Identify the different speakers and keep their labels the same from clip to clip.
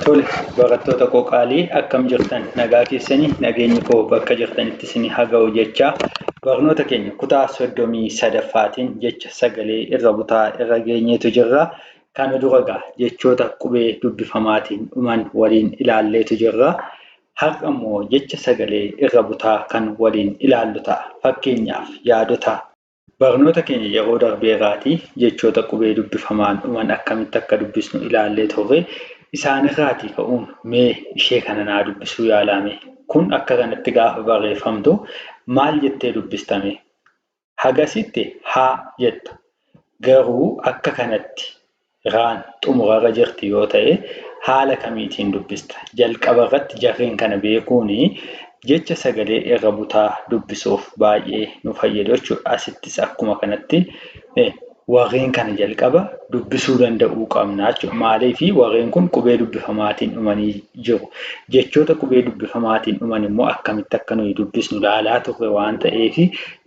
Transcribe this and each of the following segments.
Speaker 1: Tole barattota koo qaalii akkam jirtan nagaa keessani nageenyi koo bakka jirtanitti isin haga'u jechaa barnoota keenya kutaa soddomii sadaffaatiin jecha sagalee irra butaa irra geenyeetu jirra kana dura gaa jechoota qubee dubbifamaatiin dhuman waliin ilaalleetu jirra har'a immoo jecha sagalee irra butaa kan waliin ilaallu ta'a fakkeenyaaf yaadota Barnoota keenya yeroo darbee irraatii jechoota qubee dubbifamaan dhuman akkamitti akka dubbisnu ilaallee turre. Isaan irraatii ka'uun mee ishee kana naa dubbisuu yaalaa mee. Kun akka kanatti gaafa barreeffamtu maal jettee dubbista mee? Hagasitti haa jetta. Garuu akka kanatti Iraan xumurarra jirti yoo ta'e haala kamiitiin dubbista? Jalqabarratti jarreen kana beekuun jecha sagalee irra butaa dubbisuuf baay'ee nu fayyadu jechuudha. Asittis akkuma kanatti warreen kana jalqaba dubbisuu danda'uu qabna jechuudha. Maaliif warreen kun qubee dubbifamaatiin dhumanii jiru. Jechoota qubee dubbifamaatiin dhuman immoo akkamitti akka nuyi dubbisnu ilaalaa turre waan ta'eef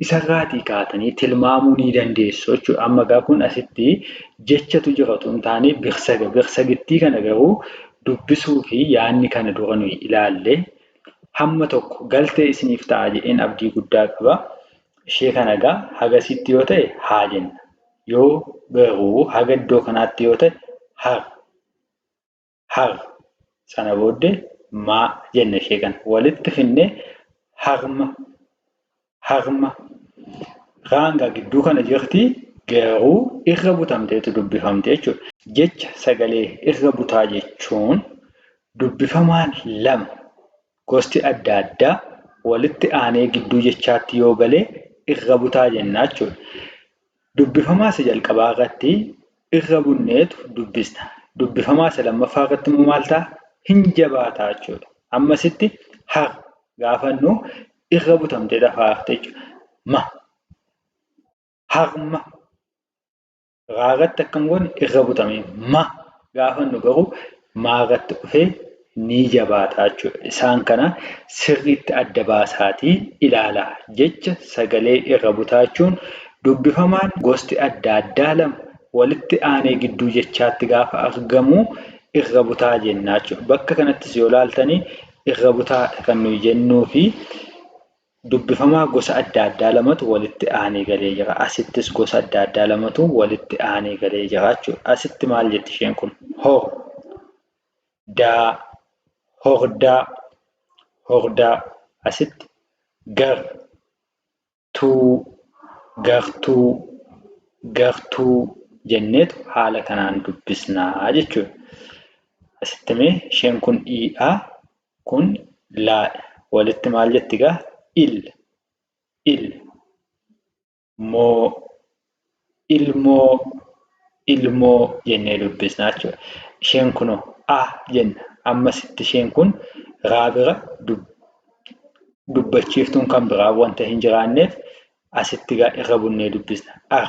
Speaker 1: isarraatii kaatanii tilmaamuu ni dandeessu jechuudha. Amma egaa kun asitti jechatu jira utuu hin taane birsaga. Birsagittii kana garuu dubbisuu fi yaanni kana dura nuyi ilaalle hamma tokko galtee isiniif ta'a jedheen abdii guddaa qaba. Ishee kana egaa hagasitti yoo ta'e haa jenna. Yoo garuu haga iddoo kanaatti yoo ta'e har. hagh sana boodde ma jenna ishee kana walitti finne hagma hagma gaanga gidduu kana jirti garuu irra butamteetu dubbifamte jechuudha. Jecha sagalee irra butaa jechuun dubbifamaan lama gosti adda addaa walitti aanee gidduu jechaatti yoo gale irra butaa jenna jechuudha. Dubbifamaa isa jalqabaa irratti irra bunneetu dubbista. Dubbifamaa isa lammaffaa irratti immoo maal ta'a? Hin jabaata jechuudha. Amma asitti har gaafa jennu irra butamtee dafaa hafte jechuudha. Ma harma raa irratti akkam goone irra butamee ma gaafa jennu garuu maagatti dhufe ni jabaata jechuudha. Isaan kana sirriitti adda baasaatii ilaala. Jecha sagalee irra butaa jechuun dubbifamaan gosti adda addaa lama walitti aanee gidduu jechaatti gaafa argamu irra butaa jenna jechuudha. Bakka kanattis yoo ilaaltanii irra butaadha kan nuyi jennuufi Dubbifamaa gosa adda addaa lamatu walitti aanee galee jira. Asittis gosa adda addaa lamatu walitti aanee galee jira jechuudha. Asitti maal jetti isheen kun? Hor. Daa. Hordaa. Hordaa. Asitti gar. Tuu. Gartuu. Gartuu jenneetu haala kanaan dubbisnaa jechuudha. Asitti mee isheen kun dhiidhaa Kun laadha. Walitti maal jetti gaa? Il. Il. Moo. Ilmoo. Ilmoo jennee dubbisna jechuudha. Isheen kunoo a jenna. Amma sitti isheen kun raa bira dubbachiiftuun kan biraa wanta hin jiraanneef asitti gaa irra bunnee dubbisna. Ar.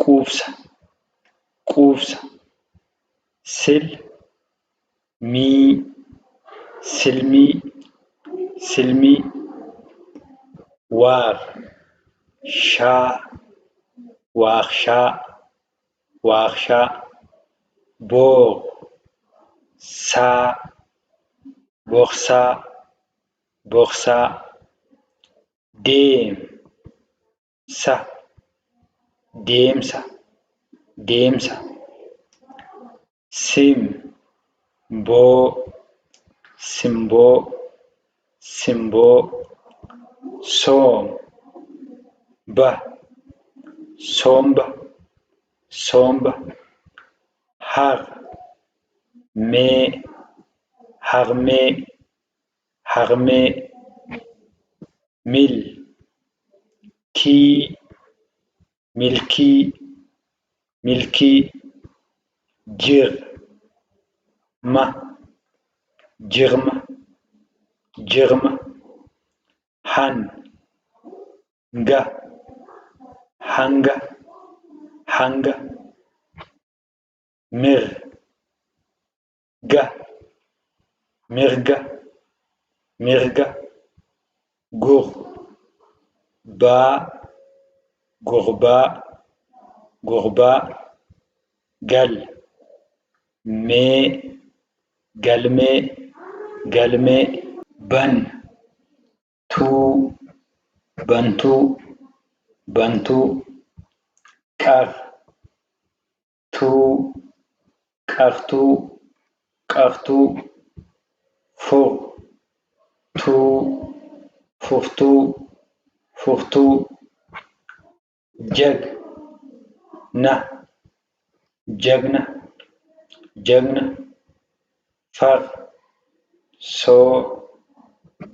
Speaker 1: quubsa quubsa sil mii silmii silmii waar shaa waakshaa waakshaa boo saa boksaa boksaa deem. sa deemsa deemsa sim boo simboo simboo soom ba soomba soomba har mee harmee Harmee Mil kii Milkii Milkii Jir ma Jirma Jirma Han ga Hanga Hanga Mir ga mirga mirga gur baa gurbaa gurbaa gal mee galmee galmee ban tuu bantuu bantuu qar tuu qaftuu qaftuu fu tuu fuftuu fuftuu jag na jagna jagna Far, soo,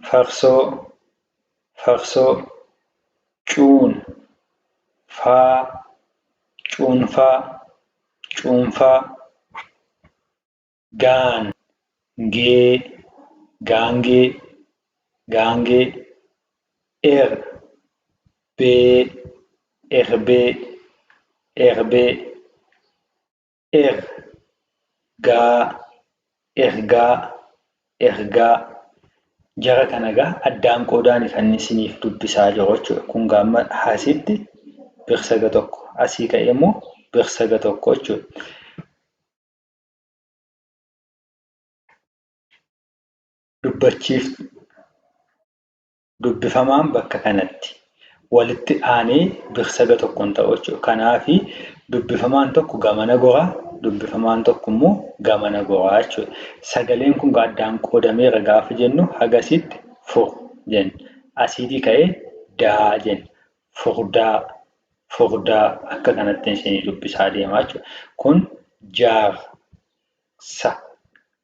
Speaker 1: farsoo, farsoo. Cuun, faa, cuunfaa, cuunfaa. Gaan, gee, gaangee, gaangee. Er, bee, erbee, erbee. er gaa ergaa ergaa jara kana gaa addaan qoodaan kan isiniif dubbisaa jiru jechuudha. Kun gaa amma haasitti birsaga tokko asii ka'ee immoo birsaga tokko jechuudha. Dubbachiif Dubbifamaan bakka kanatti walitti aanee biksaga tokkon ta'u jechuudha. Kanaafi dubbifamaan tokko gamana gora, dubbifamaan tokko immoo gamana gora jechuudha. Sagaleen kun addaan qoodameera gaafa jennu hagasitti fur jenna. Asiitii ka'ee daa jenna. Furdaa, furdaa akka kanatti isinii dubbisaa deema jechuudha. Kun jaar. Jaarsa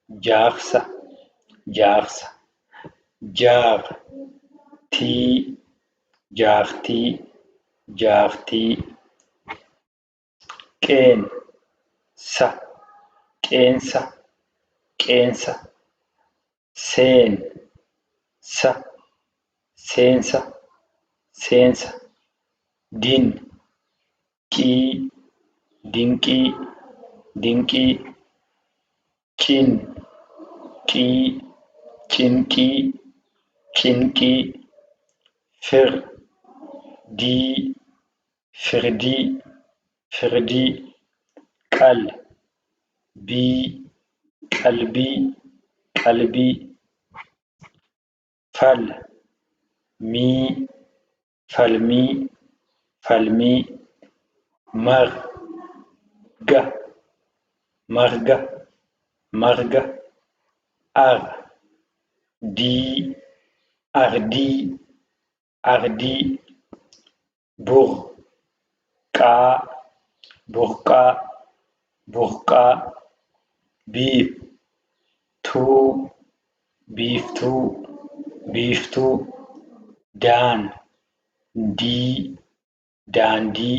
Speaker 1: Jaarsa Jaarsa Jaar tii Jaartii Jaartii Qeen sa Qeensa Qeensa seen sa seensa seensa din qii dinqii dinqii cin qii cinqii cinqii fir dii firdii firdii qal bii qalbii qalbii fal mii falmii falmii mar ga marga marga ar dii ardii Ardii Bur qaa Burqaa Burqaa Biif tuu Biiftuu Biiftuu Daan dii Daandii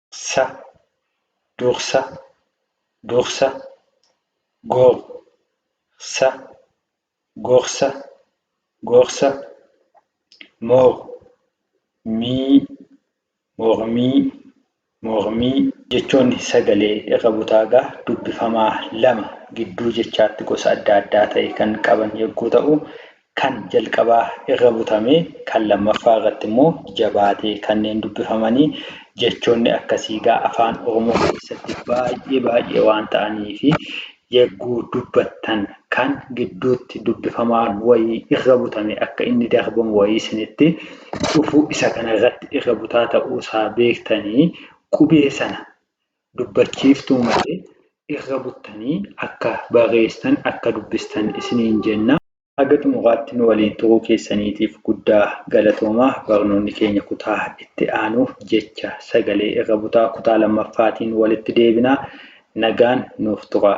Speaker 1: sa dursa dursa gor sa gorsa gorsa mor mii mormii mormii jechoonni sagalee irra butaagaa dubbifamaa lama gidduu jechaatti gosa adda addaa ta'e kan qaban yogguu ta'u kan jalqabaa irra butamee kan lammaffaa irratti immoo jabaatee kanneen dubbifamanii jechoonni akkasii gaa afaan oromoo keessatti baay'ee baay'ee waan ta'anii fi yagguu dubbattan kan gidduutti dubbifamaan wayii irra butame akka inni darbamu wayii isinitti dhufuu isa kana irratti irra butaa ta'uu isaa beektanii qubee sana dubbachiiftuu malee irra buttanii akka barreessitan, akka dubbistan isiniin jenna. Haga xumuraatti nu waliin turuu keessaniitiif guddaa galatoomaa. Barnoonni keenya kutaa itti aanu jecha sagalee irra butaa kutaa 2ffaatiin walitti deebina. Nagaan nuuf turaa.